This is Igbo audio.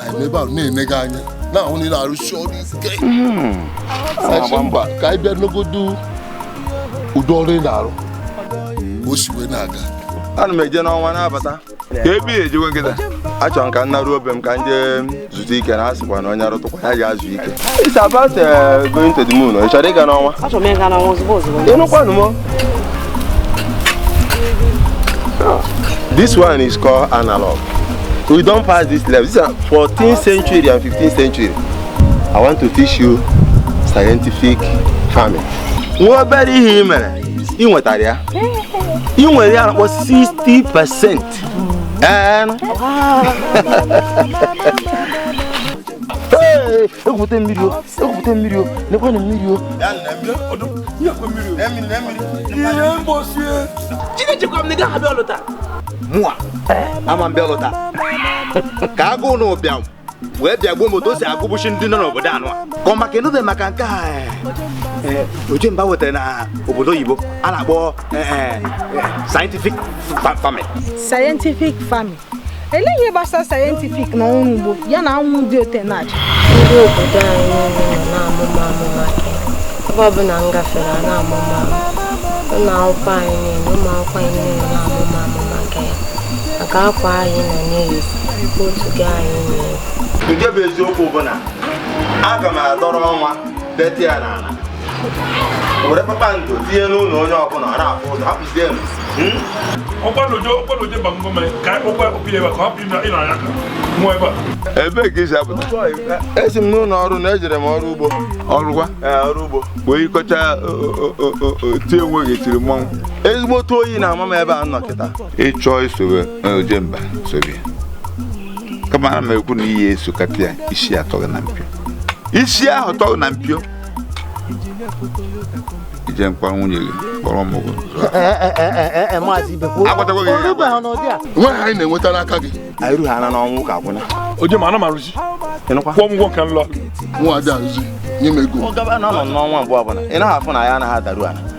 anyị nọ ebe ahụ na-ene gị anya na-ahụ na ị na-arụsi ọrụ ike A sị mba ka anyị bịa negodu ụdị ọrụ ị na-arụ ka o si wee na-aga ana m eje n'ọnwa na-abata ka ebe ya ejekwa kịta achọrọ m ka m naruo be m ka m jee zutụ ike na a sịkwa na onye arụtụkwa ya jee zuo ike It's about uh, going to the moon. Ị chọrọ ịga n'ọnwa? Achọrọ m ịga n'ọnwa ozugbo ozugbo. Ịnụkwanụ m? This one is called analog. We don pass this level. This is 14th century and 15th century. I want to teach you scientific farming. Nwa obere ihe ị mere, ị nwetara ya. E nwere ihe a na-akpọ 60 percent. Ee. egwupụta mmiri o egwupụta mmiri o nekwanụ mmiri o ihe mgbosi chineke gwa m na ị gaghị abịa ọlụ taa mụa ama m bịa ọlụ taa ka agụụ na ụbịam wee bịa gbuo m otu o si egbusi ndị nọ n'obodo anyị a ka ọ maka enube maka nke a eh, eh, ojemba wetara na obodo oyibo a na-akpọ eh, eh, eh, scientific fa- farming scientific farming Elee ihe gbasara scientific na ọrụ ugbo ya na anwụ dị otu a na-acha? Ndị obodo anyị niile nọ na-amụ m amụ maka gị. Ebe ọbụla m gafere a na-amụ m amụ. Ụlọ akwụkwọ anyị niile, ụmụ akwụkwọ anyị niile na-amụ m amụ maka gị. Maka akwa anyị nọ na-eyi, kootu gị anyị na-eyi. nke bụ eziokwu bụ na aga m adọrọ ọnwa dote ya n'ala were kpakpando tinye n'ụlọ onye ọbụla ọ na-afụ ụzọ hapụ ebee ka i si apụta esi m n'ụlọ ọrụ na ejere m ọrụ ugbo ọrụkwa ọrụ ugbo wee yikọcha tie onwe gị tiri mmọnwụ ezigbo otu oyi na-ama m ebe a m nọ kịta ị chọọ isobe ojemba sobe kama ana m ekwu na ị ya-esokata ya isi atọ gị na mpio isi ahụ tọ gị na mpio ije nkwa nwunye gị kpọrọ m ụgwọ agwatago gị ya agwa. ihe a anyị na-enweta n'aka gị anyị rughị ana n'ọnwa ka akwụna ojemba ana m arụzi ịnụkwa kwụọ m ụgwọ nke m lụ mụwa ada arụzi nye m ego ọ gaba na ọ nọ n'ọnwa mgbe ọbụla ị naghị afụ na ya anaghị adaru ala